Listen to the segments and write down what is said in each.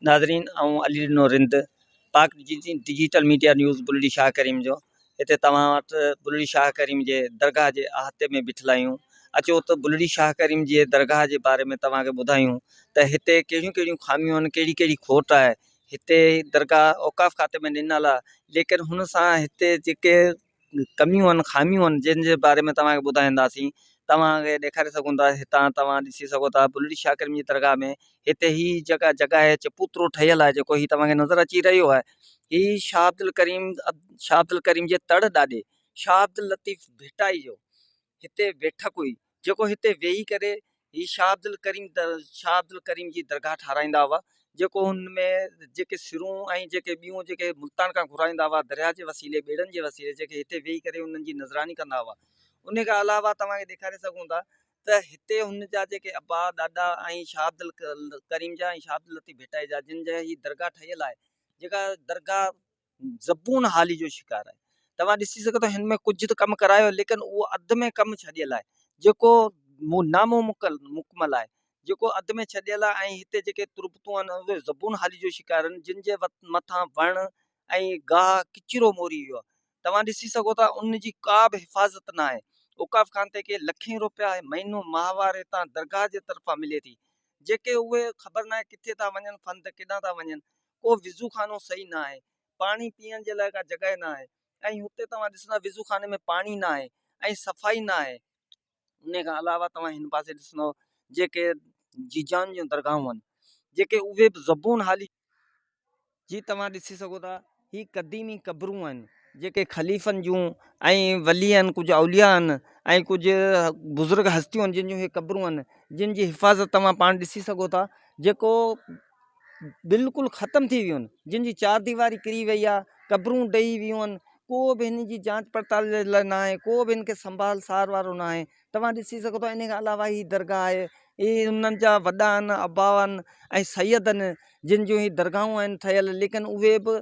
ناظرين آئون Ali Dino Rind Pak digital media news Bulri Shah Karim جو هتي توهان وٽ بلڙي شاهه ڪريم جي درگاهه جي احاطي ۾ بيٺل آهيون اچو ته بلڙي شاهه ڪريم جي درگاهه جي باري ۾ توهان کي ٻڌايون ته هتي ڪهڙيون ڪهڙيون خاميون آهن ڪهڙي ڪهڙي کوٽ آهي هتي درگاهه اوقاف کاتي ۾ ڏنل آهي ليڪن هن سان هتي جيڪي ڪميون آهن خاميون آهن جن جي باري ۾ توهان کي ٻڌائينداسين توهان کي ڏيکاري سگهون ٿا هتان توهان ڏسي سگهو ٿا بلڙي شاهه ڪريم جي درگاهه ۾ هتي هي جيڪا جڳهه آهي چبوترو ٺهيل آهي جيڪو هي توهان کي نظر اچي رهيو آهي هي شاهه عبدالڪريم شاهه عبدالڪريم جي تڙ ڏاڏي شاهه عبداللطيف ڀٽائي جو هتي بيٺڪ هئي، جيڪو هتي ويهي ڪري هي شاهه عبدالڪريم شاهه عبدالڪريم جي درگاهه ٺهرائيندا هئا، جيڪو هن ۾ جيڪي سرون ۽ جيڪي ٻيون جيڪي ملتان کان گهرائيندا هئا، درياهه جي وسيلي، ٻيڙن جي وسيلي، جيڪي هتي ويهي ڪري انهن جي نظراني ڪندا هئا. انهي کان علاوه توهان کي ڏيکاري سگهون ٿا ته هتي هن جا جيڪي ابا، ڏاڏا ۽ شاهه عبدالڪريم جا ۽ شاهه عبداللطيف ڀٽائي جا جن جي هي درگاهه ٺهيل آهي، جيڪا درگاهه زبون حالي جو شڪار آهي. توهان ڏسي سگهو ٿا هن ۾ ڪجهه ته ڪم ڪرايو ليڪن اهو اڌ ۾ ڪم ڇڏيل آهي جيڪو نامڪمل آهي جيڪو اڌ ۾ ڇڏيل آهي ۽ هتي جيڪي تربتون آهن اهي زبون حالي جو شڪار آهن جن جي مٿان وڻ ۽ گاهه ڪچرو موري ويو آهي توهان ڏسي سگهو ٿا ان جي ڪا به حفاظت نه آهي اوقاف خان تي کي لکين روپيا مهينو ماهوار هتان درگاهه جي طرفان ملي ٿي جيڪي اهي خبر نه آهي ڪٿي ٿا وڃن فند ڪيڏانهن ٿا وڃن ڪو وضو خانو صحيح نه آهي پاڻي پيئڻ جي لاء ڪا جڳهه نه آهي ۽ هتي توهان ڏسندا وضو خاني ۾ پاڻي نه آهي ۽ صفائي نه آهي ان کان علاوه توهان هن پاسي ڏسندا جيڪي جيجان جون درگاهون آهن جيڪي اهي به زبون حالي جي توهان ڏسي سگهو ٿا هي قديمي قبرون آهن جيڪي خليفن جون ۽ ولي آهن ڪجهه اوليا آهن ۽ ڪجهه بزرگ هستيون آهن جن جون هي قبرون آهن جن جي حفاظت توهان پاڻ ڏسي سگهو ٿا جيڪو بلڪل ختم ٿي ويون جن جي چار ديواري ڪري وئي آ قبرون ڊهي ويون آهن ڪو به هن جي جانچ پڙتال جي لاء نه آهي ڪو به هن کي سنڀال سار وارو نه آهي توهان ڏسي سگهو ٿا ان کان علاوه هي درگاهه آهي هي انهن جا وڏا آهن ابا آهن ۽ سيد آهن جن جون هي درگاهون آهن ٺهيل ليڪن اهي به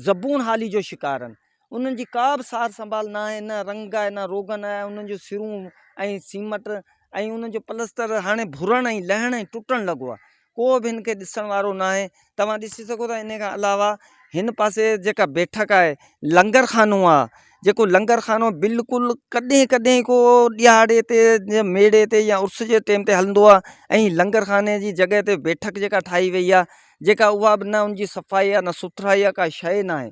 زبون حالي جو شڪار آهن انهن جي ڪا به سار سنڀال نه آهي، نه رنگ آهي، نه روغن آهي، انهن جون سرون ۽ سيمٽ ۽ انهن جو پلستر هاڻي ڀرڻ ۽ لهڻ ۽ ٽٽڻ لڳو آهي. ڪو به هن کي ڏسڻ وارو نه آهي. توهان ڏسي سگهو ٿا انهي کان علاوه هن پاسي جيڪا بيٺڪ آهي، لنگر خانو آهي، جيڪو لنگر خانو بلڪل ڪڏهن ڪڏهن ڪو ڏهاڙي تي جيئن ميڙي تي يا عرس جي ٽيم تي هلندو آهي ۽ لنگر خاني جي جڳهه تي بيٺڪ جيڪا ٺاهي وئي آهي، جيڪا اها به نه ان جي صفائي آهي نه سٿرائي آهي ڪا شيء نه آهي.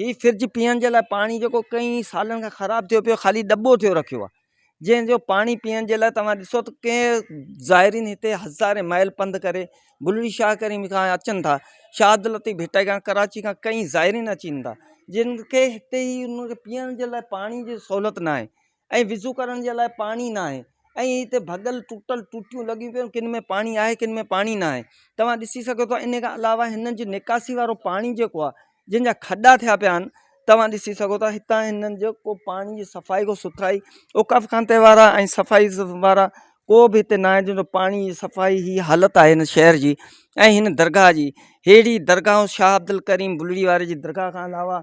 هي فرج پيئڻ جي لاء پاڻي جيڪو ڪئين سالن کان خراب ٿيو پيو خالي ڏٻو ٿيو رکيو آ جنهن جو پاڻي پيئڻ جي لاء توهان ڏسو ته ڪئين زائرين هتي هزارين مائل پنڌ ڪري بلڙي شاهه ڪريم کان اچن ٿا شاد لطيف ڀٽائي کان ڪراچي کان ڪئين زائرين اچين ٿا جن کي هتي هي ان کي پيئڻ جي لاء پاڻي جي سهولت ناهي ۽ وضو ڪرڻ جي لاء پاڻي ناهي ۽ هتي ڀڳل ٽٽل ٽوٽيون لڳيون پيون آهن ڪن ۾ پاڻي آهي ڪن ۾ پاڻي ناهي توهان ڏسي سگهو ٿا ان کان علاوه هنن جي نڪاسي وارو پاڻي جيڪو آهي جن جا کڏا ٿيا پيا آهن توهان ڏسي سگهو ٿا هتان هنن جو ڪو پاڻي جي صفائي ڪو سٿرائي اوقاف خانته وارا ۽ صفائي وارا ڪو به هتي ناهي جن جو پاڻي جي صفائي هي حالت آهي هن شهر جي ۽ هن درگاهه جي ههڙي درگاهه شاهه عبدالڪريم بلڙي واري جي درگاهه کان علاوه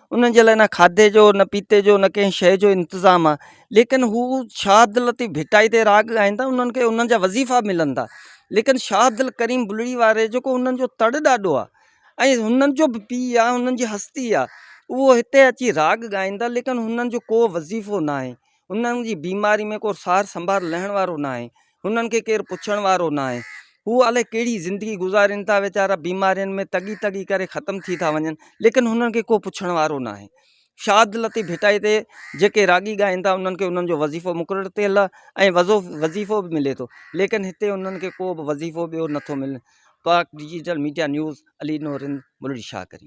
انهن جي لاء نه کاڌي جو نه پيتي جو نه ڪنهن شيء جو انتظام آ ليڪن هو شاهه عبداللطيف ڀٽائي تي راڳ ڳائيندا انهن کي انهن جا وظيفا ملندا ليڪن شاهه عبدالڪريم بلڙي واري جيڪو انهن جو تڙ ڏاڏو آ ۽ انهن جو به پيء آ انهن جي هستي آ اهو هتي اچي راڳ ڳائيندا ليڪن انهن جو ڪو وظيفو ناهي انهن جي بيماري ۾ ڪو سار سنڀار لهڻ وارو ناهي هنن کي ڪير پڇڻ وارو نه آهي. هو الائي ڪهڙي زندگي گذارين ٿا ويچارا بيمارين ۾ تڳي تڳي ڪري ختم ٿي ٿا وڃن ليڪن هنن کي ڪو پڇڻ وارو نه آهي. شاد لطيف ڀٽائي تي جيڪي راڳي ڳائين ٿا انهن کي انهن جو وظيفو مقرر ٿيل آهي ۽ وظو وظيفو به ملي ٿو ليڪن هتي انهن کي ڪو به وظيفو ٻيو نٿو ملي Pak digital media news Ali نورند ملڙي شاهه ڪريم